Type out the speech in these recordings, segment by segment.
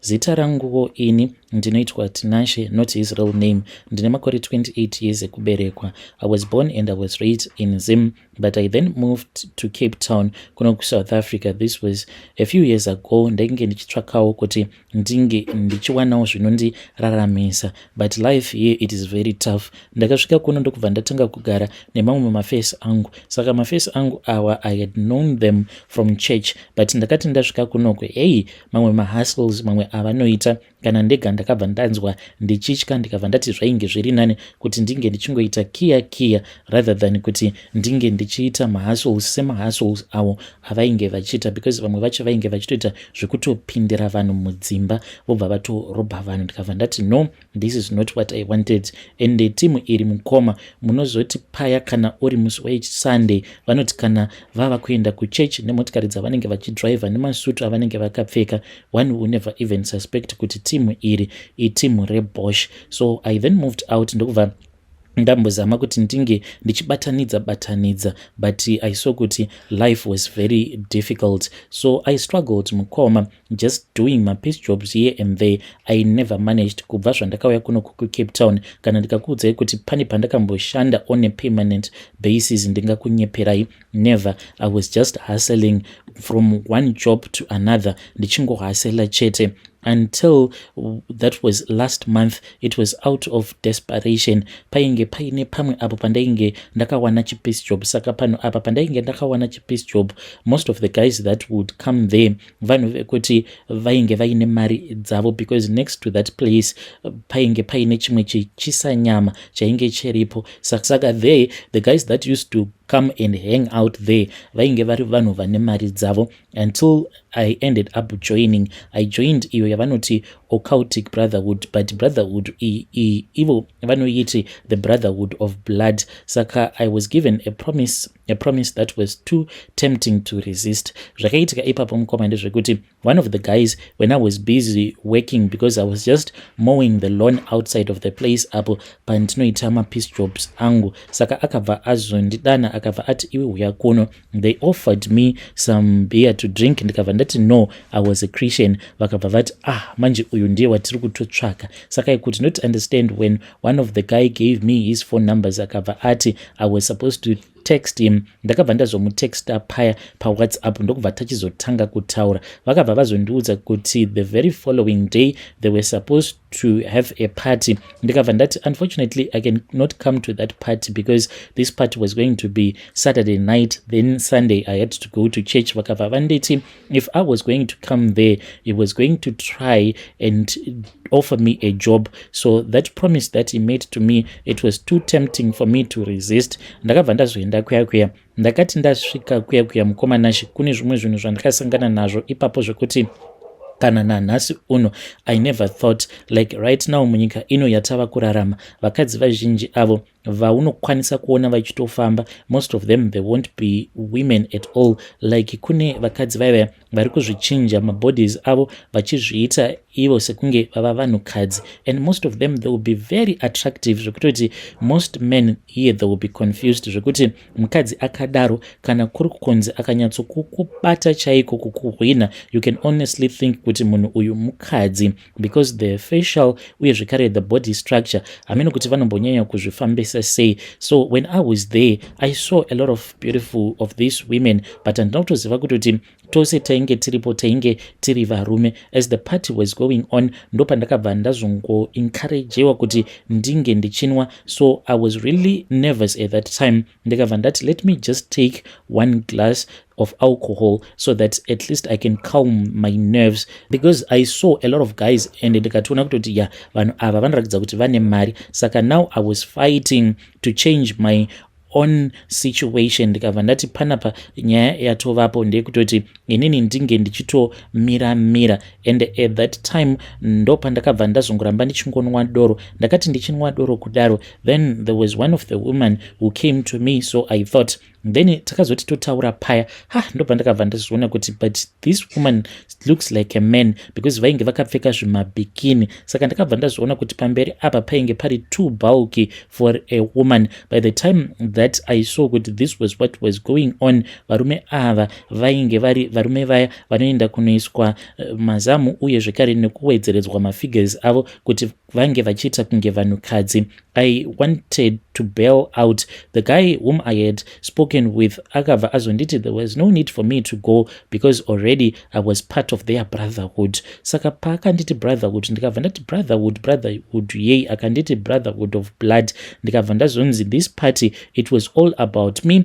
Zita ranguwo ini ndinoitwa Tinashe not his real name. Ndine makore 28 years ekuberekwa. I was born and I was raised in Zim but I then moved to Cape Town kuno kuSouth Africa. This was a few years ago. Ndainge ndichitsvakawo kuti ndinge ndichiwanawo zvinondiraramisa but life here it is very tough. Ndakasvika kuno ndokubva ndatanga kugara nemamwe mafesi angu saka mafesi angu awa I had known them from church but ndakati ndasvika kunoko hey mamwe mahustles mamwe avanoita kana ndega ndakabva ndanzwa ndichitya ndikabva ndati zvainge zviri nani kuti ndinge ndichingoita kiya kiya rather than kuti ndinge ndichiita mahustles semahustles avo avainge vachiita because vamwe vacho vainge vachitoita zvekutopindira vanhu mudzimba vobva vatorobha vanhu ndikabva ndati no This is not what I wanted ende timu iri mukoma munozoti paya kana uri musi wesunday vanoti kana vava kuenda kuchurch nemotikari dzavanenge vachidriver nemasutu avanenge vakapfeka one will never even suspect kuti timu iri itimu rebosh so i then moved out ndokubva ndambozama kuti ndinge ndichibatanidza batanidza but i saw kuti life was very difficult so i struggled mukoma just doing mapiece jobs here and there i never managed kubva zvandakauya kuno kukucape town kana ndikakuudzai kuti pane pandakamboshanda on a permanent basis ndingakunyeperai Never, I was just hustling from one job to another ndichingohasela chete until that was last month it was out of desperation painge paine pamwe apo pandainge ndakawana chipeace job saka pano apa pandainge ndakawana chipeace job most of the guys that would come there vanhu vekuti vainge vaine mari dzavo because next to that place painge paine chimwe chichisa nyama chainge chiripo saka there the guys that used to come and hang out there vainge vari vanhu vane mari dzavo until i ended up joining i joined iyo yavanoti occultic brotherhood but brotherhood ivo vanoiti the brotherhood of blood saka i was given a promise a promise that was too tempting to resist zvakaitika ipapo mukoma ndezvekuti one of the guys when i was busy working because i was just mowing the lawn outside of the place apo pandinoita mapeace jobs angu saka akabva azondidana akabva ati iwe huya kuno they offered me some beer to drink ndikabva ndati no i was a christian vakabva vati ah manje uyu ndiye watiri kutotsvaka saka i could not understand when one of the guy gave me his phone numbers akabva ati i was supposed to text him ndakabva ndazomutexta paya pawhatsapp ndokubva tachizotanga kutaura vakabva vazondiudza kuti the very following day they were supposed to have a party ndikabva ndati unfortunately i can not come to that party because this party was going to be saturday night then sunday i had to go to church vakabva vanditi if i was going to come there he was going to try and offer me a job so that promise that he made to me it was too tempting for me to resist ndakabva ndazoenda kuya kuya ndakati ndasvika kuya kuya mukomanashi kune zvimwe zvinhu zvandakasangana nazvo ipapo zvekuti kana nanhasi uno i never thought like right now munyika ino yatava kurarama vakadzi vazhinji avo vaunokwanisa kuona vachitofamba most of them they won't be women at all like kune vakadzi vaiva vari kuzvichinja mabodies avo vachizviita ivo sekunge vava vanhukadzi and most of them they will be very attractive zvekutoti most men here they will be confused zvekuti mukadzi akadaro kana kuri kukunzi akanyatsokukubata chaiko kukuhwina you can honestly think kuti munhu uyu mukadzi because the facial uye zvekare the body structure hameno kuti vanombonyanya kuzvifambisa sei so when i was there i saw a lot of beautiful of these women but handina kutoziva kuti kuti tose tainge tiripo tainge tiri varume as the party was going on ndopandakabva ndazongoencouragewa kuti ndinge ndichinwa so i was really nervous at that time ndikabva ndati let me just take one glass of alcohol so that at least i can calm my nerves because i saw a lot of guys and ndikatoona kutoti ya vanhu ava vanoratidza kuti vane mari saka now i was fighting to change my own situation ndikabva ndati panapa nyaya yatovapo ndeyekutoti inini ndinge ndichitomira mira and at that time ndopandakabva ndazongoramba ndichingonwa doro ndakati ndichinwa doro kudaro then there was one of the women who came to me so i thought then takazoti totaura paya ha ah, ndobva ndakabva ndazviona kuti but this woman looks like a man because vainge vakapfeka zvimabikini saka ndakabva ndazviona kuti pamberi apa painge pari too bulky for a woman by the time that i saw kuti this was what was going on varume ava vainge vari varume vaya vanoenda kunoiswa eh, mazamu uye zvekare nekuwedzeredzwa mafigures avo kuti vange vachiita kunge vanhukadzi i wanted to bail out the guy whom i had spoken with akabva azonditi there was no need for me to go because already i was part of their brotherhood saka paakanditi brotherhood ndikabva ndati brotherhood brotherhood yei akanditi brotherhood of blood ndikabva ndazonzi this party it was all about me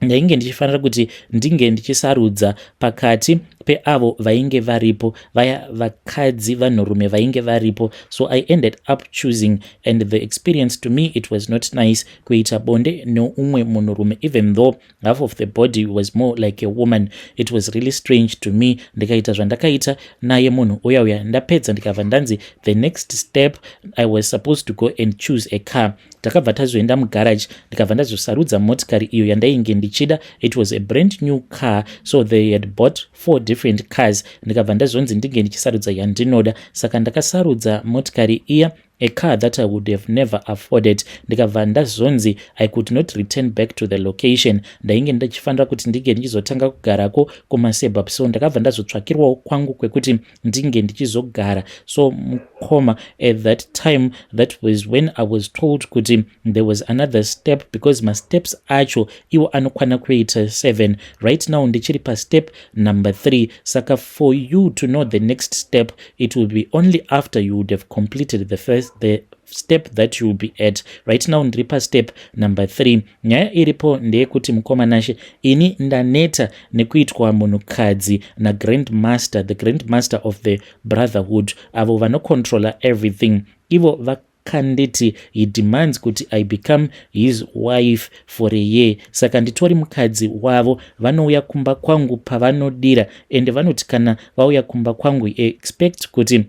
ndainge ndichifanira kuti ndinge ndichisarudza pakati peavo vainge varipo vaya vakadzi vanhurume vainge varipo so i ended up choosing and the experience to me it was not nice kuita bonde neumwe munhurume even though half of the body was more like a woman it was really strange to me ndikaita zvandakaita naye munhu uya uya ndapedza ndikabva ndanzi the next step i was supposed to go and choose a car takabva tazoenda mugaraji ndikabva ndazosarudza motikari iyo yandainge ndichida it was a brand new car so they had bought four different cars ndikabva ndazonzi ndinge ndichisarudza yandinoda saka ndakasarudza motikari iya a car that i would have never afforded ndikabva ndazonzi i could not return back to the location ndainge ndichifanira kuti ndinge ndichizotanga kugarako kumasebup so ndakabva ndazotsvakirwawo kwangu kwekuti ndinge ndichizogara so mukoma at that time that was when i was told kuti there was another step because masteps acho iwo anokwana kuita seven right now ndichiri pastep number three saka for you to know the next step it will be only after you would have completed the first the step that you will be at right now ndiri pastep number three Nyaya iripo ndeyekuti mukoma Nashe ini ndaneta nekuitwa munhukadzi nagrandmaster the grandmaster of the brotherhood avo vanocontrola everything ivo vakanditi he demands kuti i become his wife for a year saka nditori mukadzi wavo vanouya kumba kwangu pavanodira ende vanoti kana vauya kumba kwangu expect kuti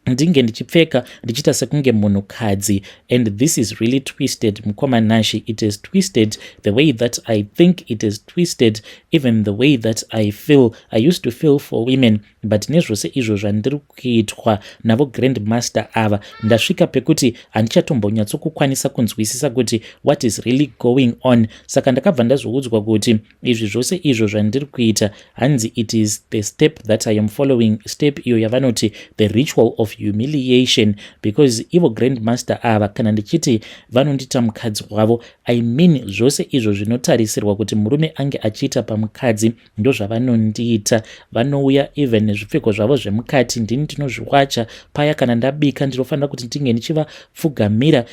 ndinge ndichipfeka ndichiita sekunge munhukadzi and this is really twisted mukoma nashi it is twisted the way that i think it is twisted even the way that i feel i used to feel for women but nezvose izvo zvandiri kuitwa navo grand master ava ndasvika pekuti handichatombonyatsokukwanisa kunzwisisa kuti what is really going on saka ndakabva ndazoudzwa kuti izvi zvose izvo zvandiri kuita hanzi it is the step that i am following step iyo yavanoti the ritual of humiliation because ivo grandmaster ava kana ndichiti vanondita mukadzi wavo i mean zvose izvo zvinotarisirwa kuti murume ange achiita pamukadzi ndozvavanondiita vanouya even nezvipfeko zvavo zvemukati ndini ndinozviwacha paya kana ndabika ndinofanira kuti ndinge ndichivapfugamira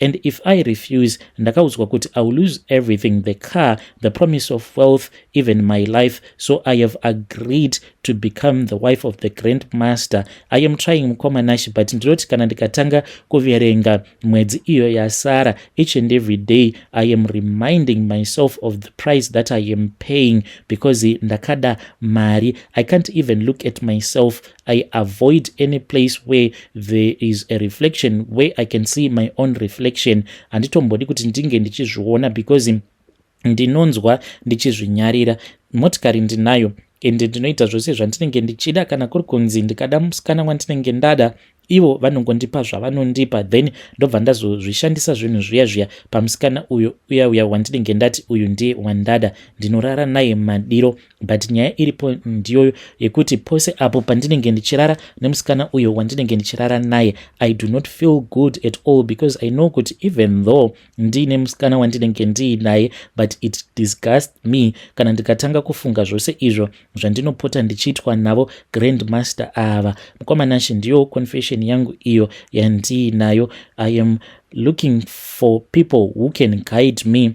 and if i refuse ndakaudzwa kuti i will lose everything the car the promise of wealth even my life so i have agreed to become the wife of the grand master i am trying mukoma nashi but ndinoti kana ndikatanga kuverenga mwedzi iyo yasara each and every day i am reminding myself of the price that i am paying because ndakada mari i can't even look at myself I avoid any place where there is a reflection where I can see my own reflection handitombodi kuti ndinge ndichizviona because ndinonzwa ndichizvinyarira motikari ndinayo ende ndinoita zvose zvandinenge ndichida kana kuri kunzi ndikada musikana wandinenge ndada ivo vanongondipa zvavanondipa then ndobva ndazozvishandisa zvinhu zviya zviya pamusikana uyo uya uya wandinenge ndati uyu ndiye wandada ndinorara naye madiro but nyaya iripo ndiyoyo yekuti pose apo pandinenge ndichirara nemusikana uyo wandinenge ndichirara naye i do not feel good at all because i know kuti even though ndiine musikana wandinenge ndiinaye but it disgust me kana ndikatanga kufunga zvose izvo zvandinopota ndichiitwa navo grandmaster ava mukwamanashe ndiyo confession yangu iyo yandiinayo i am looking for people who can guide me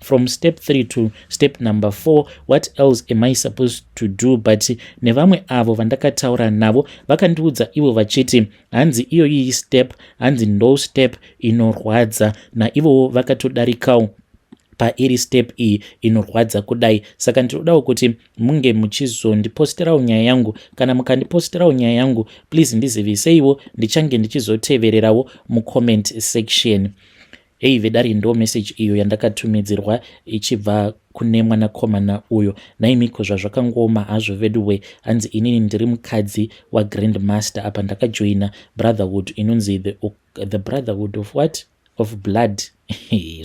from step 3 to step number 4 what else am i supposed to do but nevamwe avo vandakataura navo vakandiudza ivo vachiti hanzi iyoyi step hanzi ndo step inorwadza naivowo vakatodarikawo pairi step iyi inorwadza kudai saka ndinodawo kuti munge muchizondipostirawo nyaya yangu kana mukandipostirawo nyaya yangu please ndiziviseiwo ndichange ndichizotevererawo mucomment section Hey vedare ndo message iyo yandakatumidzirwa ichibva kune mwanakomana uyo naimiko zvazvakangooma hazvo veduwe hanzi inini ndiri mukadzi wagrand master apa ndakajoina brotherhood inonzi the, the brotherhood of what of blood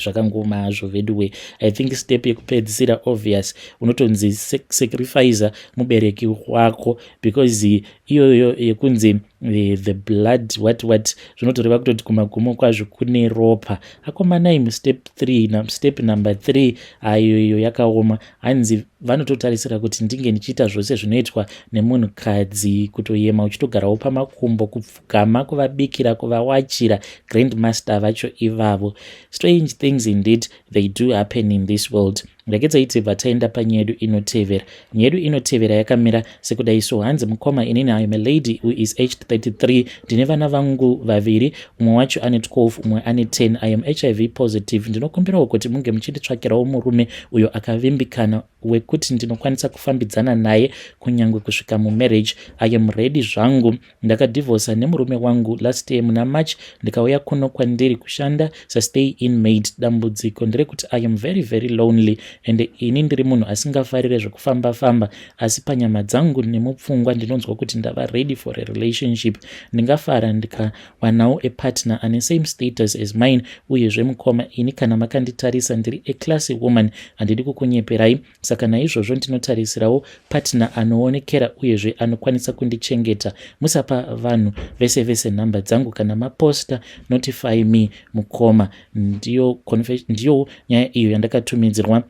zvakangooma hazvo veduwe i think step yekupedzisira obvious unotonzi sacrifice mubereki wako because iyoyo yekunzi eh, the blood what what zvinotoreva kutoti kumagumo kwazvo kune ropa akomanai mustep 3 step number 3 ayo iyo yakaoma hanzi vanototarisira kuti ndinge ndichiita zvose zvinoitwa nemunhukadzi kutoyema uchitogarawo pamakumbo kupfugama kuvabikira kuvawachira grandmaster vacho ivavo strange things indeed they do happen in this world Regedzai tibva taenda panyedu inotevera. Nyedu inotevera yakamira sekudai so hanzi mukoma inini I am a lady who is aged 33 ndine vana vangu vaviri umwe wacho ane 12 umwe ane 10 I am HIV positive ndinokumbirawo kuti munge muchinditsvakirawo murume uyo akavimbikana wekuti ndinokwanisa kufambidzana naye kunyange kusvika mumarriage I am ready zvangu Ndakadivhosa nemurume wangu last year muna March ndikauya kuno kwandiri kushanda sastay in maid. Dambudziko nderekuti I am very very lonely and ini ndiri munhu asingafarire zvekufamba famba asi panyama dzangu nemupfungwa ndinonzwa kuti ndava ready for a relationship. Ndingafara ndikawanawo a partner ane same status as mine uyezve mukoma ini kana makanditarisa ndiri a classy woman handidi kukunyeperai. saka naizvozvo ndinotarisirawo patner anoonekera uyezve anokwanisa kundichengeta musapa vanhu vese vese nhamba dzangu kana maposta notify me mukoma ndiyo, ndiyo nyaya iyo yandakatumidzirwa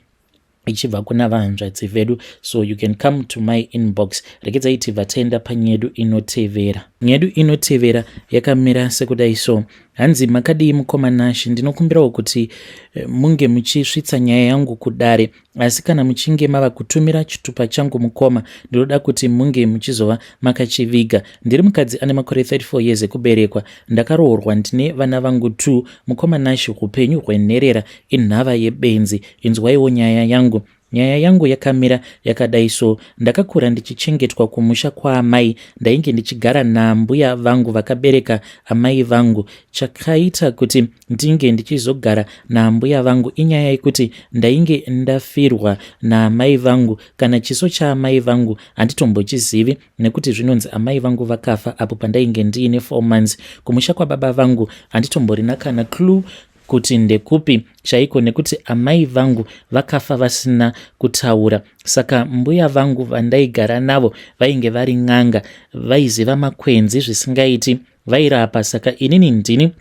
ichibva kuna vahanzvadzi vedu so you can come to my inbox rekedzai tibva taenda panyedu inotevera nyedu inotevera yakamira sekudai so Hanzi makadii mukoma Nash, ndinokumbirawo kuti eh, munge muchisvitsa nyaya yangu kudare, asi kana muchinge mava kutumira chitupa changu mukoma, ndinoda kuti munge muchizova makachiviga. Ndiri mukadzi ane makore 34 years ekuberekwa, ndakaroorwa ndine vana vangu two. Mukoma Nash, upenyu hwenherera inhava yebenzi, inzwaiwo nyaya yangu. Nyaya yangu yakamira yakadai so ndakakura ndichichengetwa kumusha kwaamai ndainge ndichigara naambuya vangu vakabereka amai vangu chakaita kuti ndinge ndichizogara naambuya vangu inyaya yekuti ndainge ndafirwa naamai vangu kana chiso chaamai vangu handitombochizivi nekuti zvinonzi amai vangu vakafa apo pandainge ndiine four months kumusha kwababa vangu handitomborina kana clue kuti ndekupi chaiko nekuti amai vangu vakafa vasina kutaura saka mbuya vangu vandaigara navo vainge vari n'anga vaiziva makwenzi zvisingaiti vairapa saka inini ndini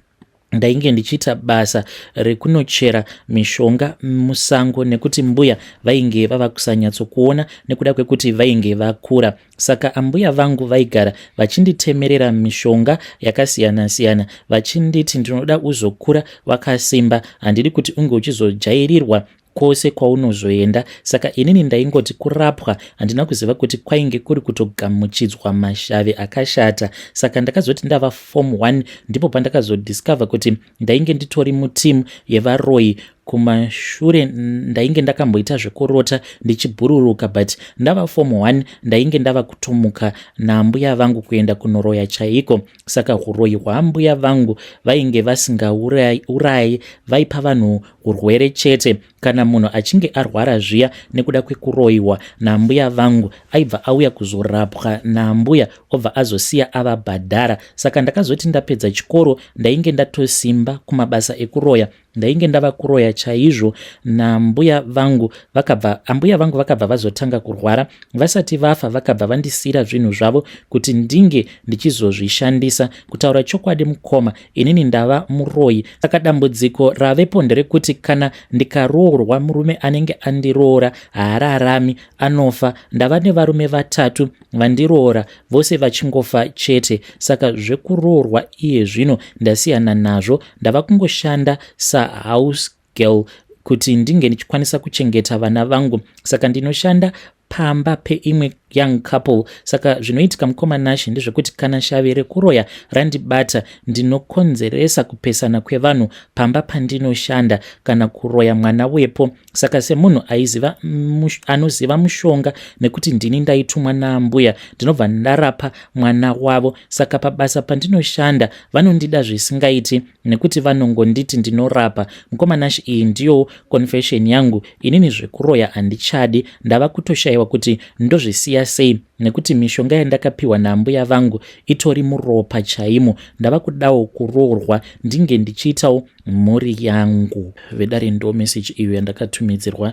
ndainge ndichiita basa rekunochera mishonga musango nekuti mbuya vainge vava kusanyatsokuona nekuda kwekuti vainge vakura saka ambuya vangu vaigara vachinditemerera mishonga yakasiyana siyana vachinditi ndinoda uzokura wakasimba handidi kuti unge uchizojairirwa kwose kwaunozoenda saka inini ndaingoti kurapwa handina kuziva kuti kwainge kuri kutogamuchidzwa mashavi akashata saka ndakazoti ndava form 1 ndipo pandakazodiscover kuti ndainge nditori mutimu yevaroyi kumashure ndainge ndakamboita zvekurota ndichibhururuka but ndava form one ndainge ndava kutomuka naambuya vangu kuenda kunoroya chaiko saka uroyi hwaambuya vangu vainge vasingaurayi vaipa vanhu urwere chete Kana munhu achinge arwara zviya nekuda kwekuroiwa naambuya vangu aibva auya kuzorapwa naambuya obva azosiya avabhadhara. Saka ndakazoti ndapedza chikoro ndainge ndatosimba kumabasa ekuroya ndainge ndava kuroya chaizvo nambuya vangu vakabva ambuya vangu vakabva vazotanga kurwara vasati vafa vakabva vandisiyira zvinhu zvavo kuti ndinge ndichizozvishandisa kutaura chokwadi mukoma inini ndava muroyi saka dambudziko ravepo nderekuti kana ndikaroorwa murume anenge andiroora haararami anofa ndava nevarume vatatu vandiroora vose vachingofa chete saka zvekuroorwa iye zvino ndasiyana nazvo ndava kungoshanda sahouse girl kuti ndinge ndichikwanisa kuchengeta vana vangu saka ndinoshanda pamba peimwe young couple saka zvinoitika mukoma nashe ndezvekuti kana shavi rekuroya randibata ndinokonzeresa kupesana kwevanhu pamba pandinoshanda kana kuroya mwana wepo saka semunhu aiziva mush, anoziva mushonga nekuti ndini ndaitumwa naambuya ndinobva ndarapa mwana wavo saka pabasa pandinoshanda vanondida zvisingaiti nekuti vanongonditi ndinorapa mukoma Nash iyi ndiyowo confession yangu inini zvekuroya handichadi ndava kutoshayiwa kuti ndozvisiya sei nekuti mishonga yandakapiwa naambuya vangu itori muropa chaimo ndava kudawo kuroorwa ndinge ndichiitawo mhuri yangu vedare ndo message iyo yandakatumidzirwa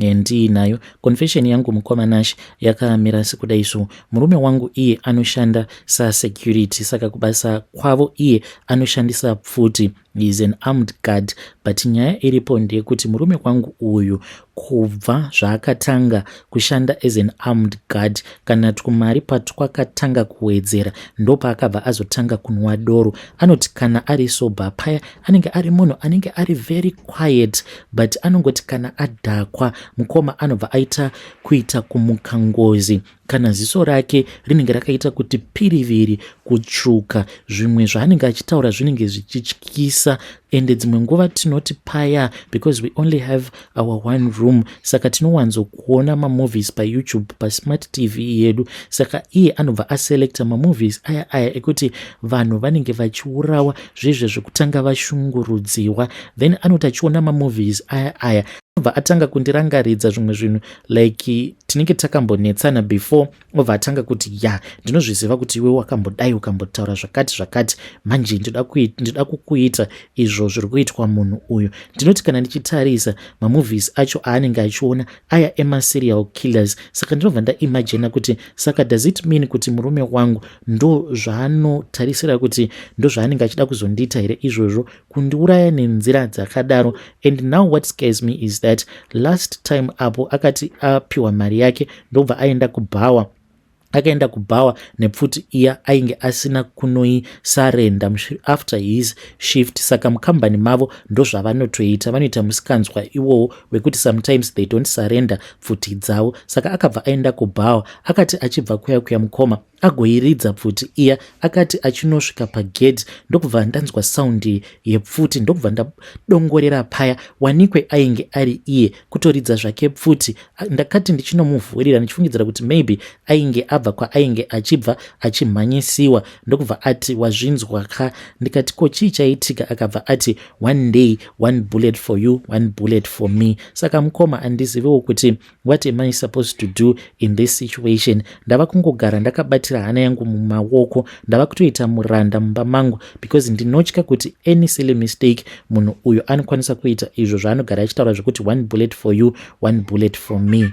Handii nayo confession yangu mukoma Nash yakamira sekuda izvo. Murume wangu iye anoshanda sa security saka kubasa kwavo iye anoshandisa pfuti is an armed guard but nyaya iripo ndeyekuti murume kwangu uyu kubva zvaakatanga kushanda as an armed guard kana twumari patwakatanga kuwedzera ndopaakabva azotanga kunwa doro anoti kana ari sober paya anenge ari munhu anenge ari very quiet but anongoti kana adhakwa mukoma anobva aita kuita kumuka ngozi kana ziso rake rinenge rakaita kuti piriviri kutsvuka zvimwe zvaanenge achitaura zvinenge zvichityisa ende dzimwe nguva tinoti paya because we only have our one room saka tinowanzokuona mamovies payoutube pasmart tv yedu saka iye anobva aselecta mamovies aya aya ekuti vanhu vanenge vachiurawa zvezve zvekutanga vashungurudziwa then anoti achiona mamovies aya aya anobva atanga kundirangaridza zvimwe zvinhu like tinenge takambonetsana before obva atanga kuti ya ndinozviziva kuti iwe wakambodai ukambotaura zvakati zvakati manje ndinoda kukuita izvo zviri kuitwa munhu uyu ndinoti kana ndichitarisa mamovies acho aanenge achiona aya emaserial killers saka ndinobva ndaimajina kuti saka does it mean kuti murume wangu ndo zvaanotarisira kuti ndo zvaanenge achida kuzondiita here izvozvo kundiuraya nenzira dzakadaro and now what scares me is that last time apo akati apiwa mari yake ndobva aenda kubhawa akaenda kubhawa nepfuti iya ainge asina kunoisarenda after his shift saka mukambani mavo ndozvavanotoita vanoita musikanzwa iwowo wekuti sometimes they don't surrender pfuti dzavo saka akabva aenda kubhawa akati achibva kuya kuya mukoma agoiridza pfuti iya akati achinosvika pagedhi ndokubva ndanzwa saundi yepfuti ndokubva ndadongorera paya wanikwe ainge ari iye kutoridza zvake pfuti ndakati ndichinomuvhurira ndichifungidzira kuti maybe ainge abva kwaainge achibva achimhanyisiwa ndokubva ati wazvinzwa ka ndikati ko chii chaitika akabva ati one day one bullet for you one bullet for me saka mukoma andizivewo kuti What am I supposed to do in this situation? Ndava kungogara ndakabatira hana yangu mumaoko. Ndava kutoita muranda mumba mangu because ndinotya kuti any silly mistake munhu uyo anokwanisa kuita izvo zvaanogara achitaura zvekuti one bullet for you, one bullet for me.